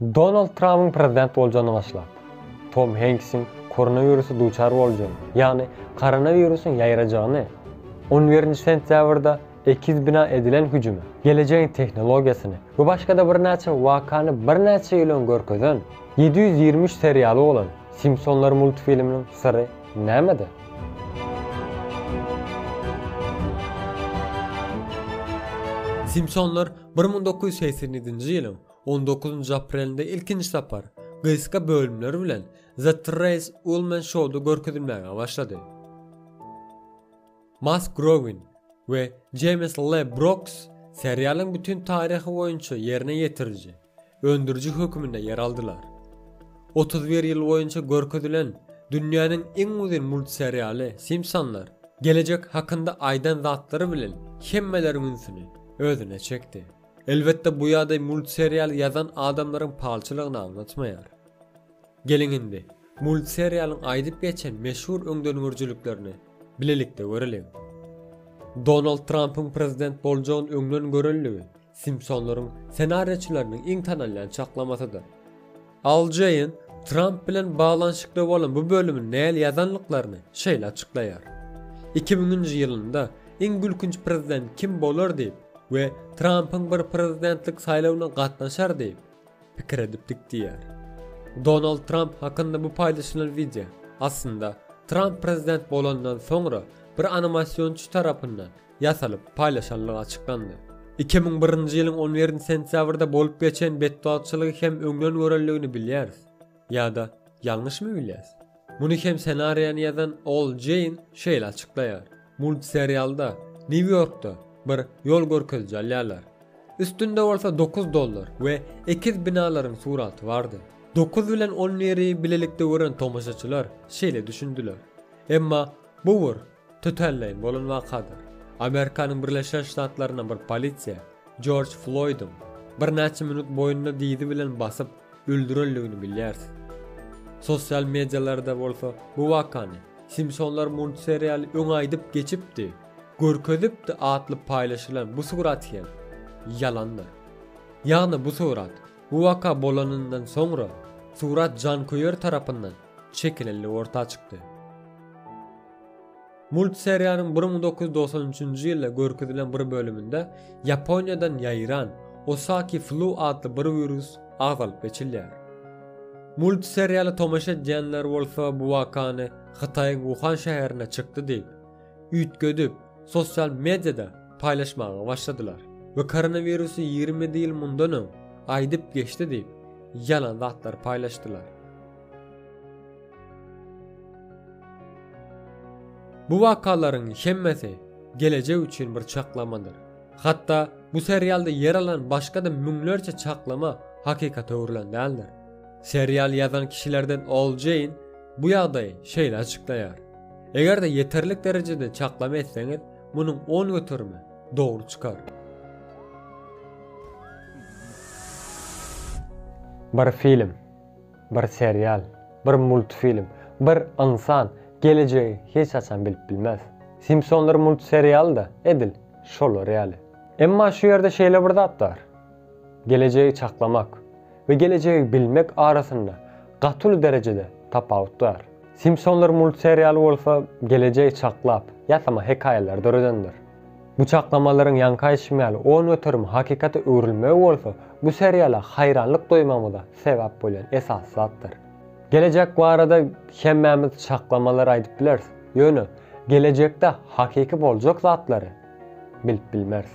Donald Tramyň prezident boljany başlap, Tom Henksiň koronawirusa duçar boljagy, ýagny koronawirusyň ýaýrajagyny, on birinji sentýabrda ekiz bina edilen hüjümi, gelejegiň tehnologiýasyny we başga-da birnäçe wakany birnäçe ýyl öň görkezen ýedi ýüz ýigrimi üç serialy bolan Simpsonlar multfilminiň syry nämede? Simpsonlar bir müň dokuz ýüz segsen ýedinji ýylyň On dokuzynjy aprelinde ilkinji sapar gysga bölümler bilen The Trace Ullman Show-da görkezilmäge başlady. Matt Growin we James Le Brooks serialyň bütin taryhy boýunça ýerine ýetiriji, öndüriji hökmünde ýer aldylar. 31 ýyl boýunça görkezilen dünýäniň iň uzyn multserialy Simpsonlar gelejek hakynda aýdan zatlary bilen hemmeleriň ünsüni özüne çekdi. Elbetde bu ýagdaý multserial ýazan adamlaryň palçylygyny aňlatmaýar. Geliň indi, multserialyň aýdyp geçen meşhur öňdengörüjiliklerini bilelikde göreliň. Donald Trampyň prezident boljagyny öňden görendigi Simpsonlaryň senariýaçylarynyň iň tanalýan çaklamasydyr. Al Jeýn Tramp bilen baglanyşykly bolan bu bölümi näl ýazanlyklaryny şeýle açyklaýar, Iki müňünji ýylynda iň gülkünç prezident kim bolar diýip we Trampyň bir prezidentlik saýlawyna gatnaşar diýip pikir edipdik diýýär. Donald Tramp hakynda bu paýlaşylan wideo, aslynda, Tramp prezident bolandan soňra bir animasionçy tarapyndan ýasalyp, paýlaşandygy açyklandy. Iki müň birinji ýylyň on birinji sentýabrda bolup geçen betbagtçylygy hem öňden görenligini bilýäris. Ýa-da ýalňyşmy bilýäs? Muny hem senariýany ýazan Ol Jeýn şeýle açyklaýar, Multserialda Nýu-Ýorkda bir ýol görkeziji alýarlar. Üstünde bolsa dokuz dollar we ekiz binalaryň suraty bardy. Dokuz bilen on biri bilelikde gören tomaşaçylar şeýle düşündiler. Emma bu bir Tötänleýin bolan wakadyr. Amerikanyň Birleşen Ştatlarynda bir polisiýa Jorj Floýdyň birnäçe minut boýnuna dyzy bilen basyp, öldürendigini bilýärsiň. Sosial medialarda bolsa bu wakany Simpsonlar multserialy öň aýdyp geçipdi, görkezipdi atly paýlaşylan bu surat hem ýalandyr. Ýagny bu surat bu waka bolanyndan soňra surat janköýer tarapyndan çekilenligi orta çykdy. Multseriýanyň bir müň dokuz ýüz dogsan üçünji ýylda görkezilen bir bölüminde Ýaponiýadan ýaýran Osaki Flu atly bir wirus agzalyp geçilýär. Multseriýala tomaşa edýänler bolsa bu wakany Hytaýyň Wuhan şäherinde çykdy diýip, üýtgedip, sosial mediada paýlaşmaga başladylar we koronawirusy ýigrimi ýedi ýyl mundan öň aýdyp geçdi diýip, ýalan zatlar paýlaşdylar. Bu wakalaryň hemmesi gelejek üçin bir çaklamadyr. Hatda bu serialda ýer alan başga-da müňlerçe çaklama hakykata öwrülen däldir. Serial ýazan kişilerden Ol Jeýn bu ýagdaýy şeýle açyklaýar, Eger-de ýeterlik derejede çaklama etseňiz, munuň on göterimi dogry çykar. Bir film. Bir serial, bir multfilm, bir ynsan gelejegi hiç haçan bilip bilmez. Simpsonlar multserialy-da edil şolar ýaly. Emma şu ýerde şeýle bir zat bar. Gelejegi çaklamak we gelejegi bilmek arasynda gaty uly derejede tapawut bar. Simpsonlar multserialy bolsa gelejegi çaklap, ýasama hekaýalary döredendir. Bu çaklamalaryň ýaňky aýtşym ýaly on göterim hakykata öwrülmegi bolsa bu seriala haýranlyk doýmagymyza sebäp bolýan esasy zatdyr. Gelejek barada hemmämiz çaklamalar aýdyp bileris, ýöne gelejekde hakyky boljak zatlary bilip bilmeris.